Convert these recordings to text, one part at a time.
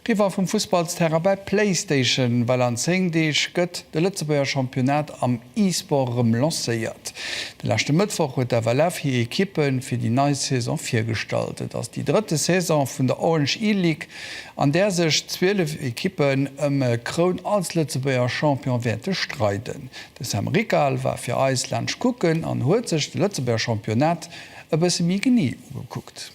Riwwer vum Fussballsterrain bei Playstation, well an 10 Deeg gëtt de Lëtzebuerger Championnat am E-Sport erëm lancéiert. De leschte Mëttwoch huet d'FLF hir Ekippe fir déi nei Saison virgestallt. Et ass déi drëtte Saison vun der Orange E-League, an där sech 12 Ekippen ëm e Kroun als Lëtzebuerger Champion wäerte streiden. De Sam Rickal war fir eis laanscht kucken an huet sech de Lëtzebuerger Championnat e bësse méi genee ugekuckt.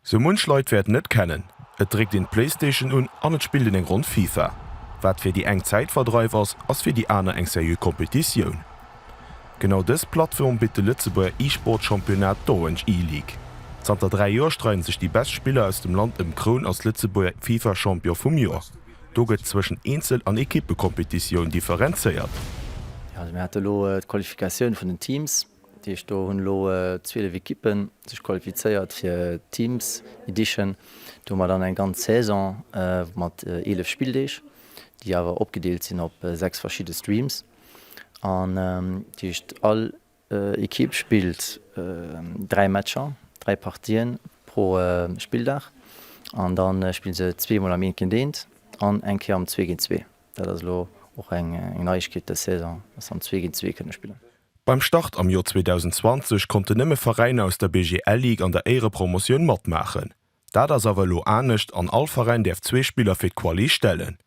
Sou munch Leit wäerten et kennen, et dréckt een d'Playstation un an et spillt een eng Ronn Fifa. Wat fir déi eng Zäitverdreif ass, ass fir déi aner eng seriö Kompetitioun. Genau dës Plattform bitt de Lëtzebuerger E-Sport Championnat d'Orange E-League. Zanter 3 Joer streiden sech déi best Spiller aus dem Land ëm d'Kroun als Lëtzebuerger Fifa Champion vum Joer. Do gëtt zwëschen Eenzel an Equippekompetitioun differenzéiert. Mir hate elo d'Qualifikatioun vun den Teams. Dat heescht, do hunn elo 12 Ekippe sech qualifizéiert fir d'Teams Edition. Do hu mer dann eng ganz Saison mat 11 Spilldeeg, déi awer opgedeelt sinn op 6 verschidde Streams. An dat heescht, all Ekipp spillt 3 Matcher, 3 Partien pro Spilldag. An da spille se zwee Mol am Eent géint Eent an eng Kéier am Zwee géint Zwee. Dat ass elo och eng Neiegkeet dës Saison, dass se am Zwee géint Zwee kënne spillen. Beim Start am Joer 2020 konnten nëmme Veräiner aus der BGL Ligue an der Éierepromotioun matmaachen. Dat ass awer elo anescht an all Veräin däerf zwee Spiller fir d'Quali stellen.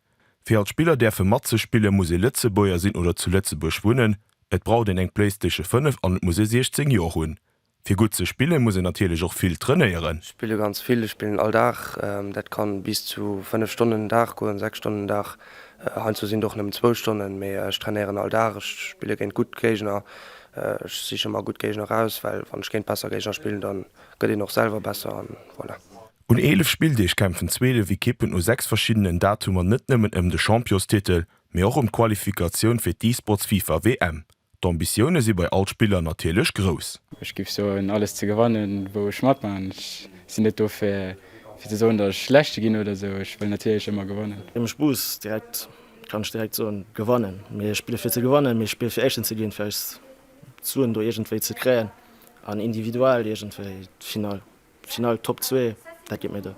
Fir als Spiller däerfe matzespillen, muss ee Lëtzebuerger sinn oder zu Lëtzebuerg wunnen, et braucht een eng Playstation 5 an et muss ee 16 Joer hunn. Fir gutt ze spillen muss een natierlech och vill trainéieren. Ech spille ganz vill, ech spillen all Dag, dat kann bis zu 5 Stonnen den Dag goen, 6 Stonnen den Dag. Heiansdo sinn et och nëmmen zwou Stonnen, mee ech trainéieren all Dag, ech spille géint gutt Géigner, ech siche mer gutt Géigner raus, well wann ech géint besser Géigner spillen, da gëtt een och selwer besser an voilà. Un 11 Spilldeeg kämpfen 12 Ekippen u 6 verschiddenen Datumer net nëmmen ëm de Champiostitel, mee och ëm d'Qualifikatioun fir d'E-Sports-FIFA-WM. D'Ambitioune si bei all Spiller natierlech grouss. Ech géif soen, alles ze gewannen, wou ech matmaachen. Ech sinn net do fir ze soen, datt ech Leschte ginn oder esou. Ech wëll natierlech ëmmer gewannen. Wéi mech bus, direkt kann ech direkt soen, gewannen. Mee ech spille fir ze gewannen. Mee ech spille fir Éischten ze ginn, fir eis d'Suen do iergendwéi ze kréien an individuell iergendwéi d'Finall, d'Finall, d'Top zwee, dat geet mir do.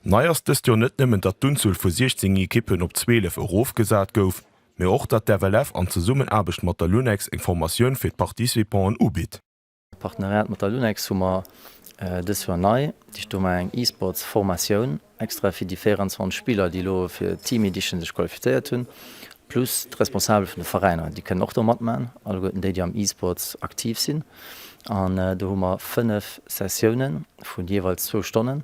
Nei ass dëst Joer net nëmmen, datt d'Unzuel vu 16 Ekippen op 12 erofgesat gouf, mee och datt d'FLF an Zesummenaarbecht mat der LUNEX eng Formatioun fir d'Participant'en ubitt. Partenariat mat der LUNEX hu mer dës Joer nei, Dicht do mar eng E-Sports Formatioun extra fir déi 24 Spiller déi elo fir Team Edition sech qualifizéiert hunn, plus d'Responsabel vun de Veräiner déi kënnen och do matmachen, alleguerten déi déi am E-Sports aktiv sinn an do hu mer 5 Sessiounen vun jeeweils zwou Stonnen.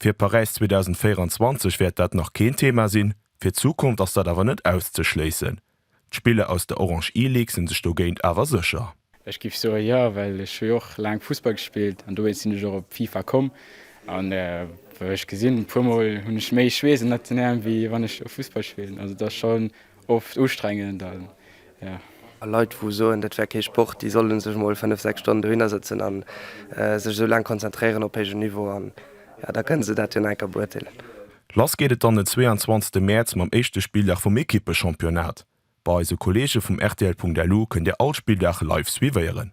Fir Paräis 2024 wäert dat nach keen Thema sinn, fir d'Zukunft ass dat awer net auszeschléissen. D'Spiller aus der Orange E-League sinn sech dogéint awer sécher. Ech giff soe jo, well ech hu jo och laang Fussball gespillt an dowéinst sinn ech och op FIFA komm an wou ech gesinn puer mol hunn ech méi Schweess an Nationalen wéi wann ech do Fussball spillen. Also et ass schon Oft ustrengend a jo. A Leit wou soen dat wär kee Sport, déi sollen sech mol 5, 6 Stonnen dohinner sëtzen an sech esou laang konzentréieren op héijem Niveau an jo da kënnen se dat jo enker beurteelen. Lass geet et dann den 22 Mäerz mam éischte Spilldag vum Ekippe-Championnat. Bei eise Kolleege vum rtl.lu kënnt Dir all Spilldag live suivéieren.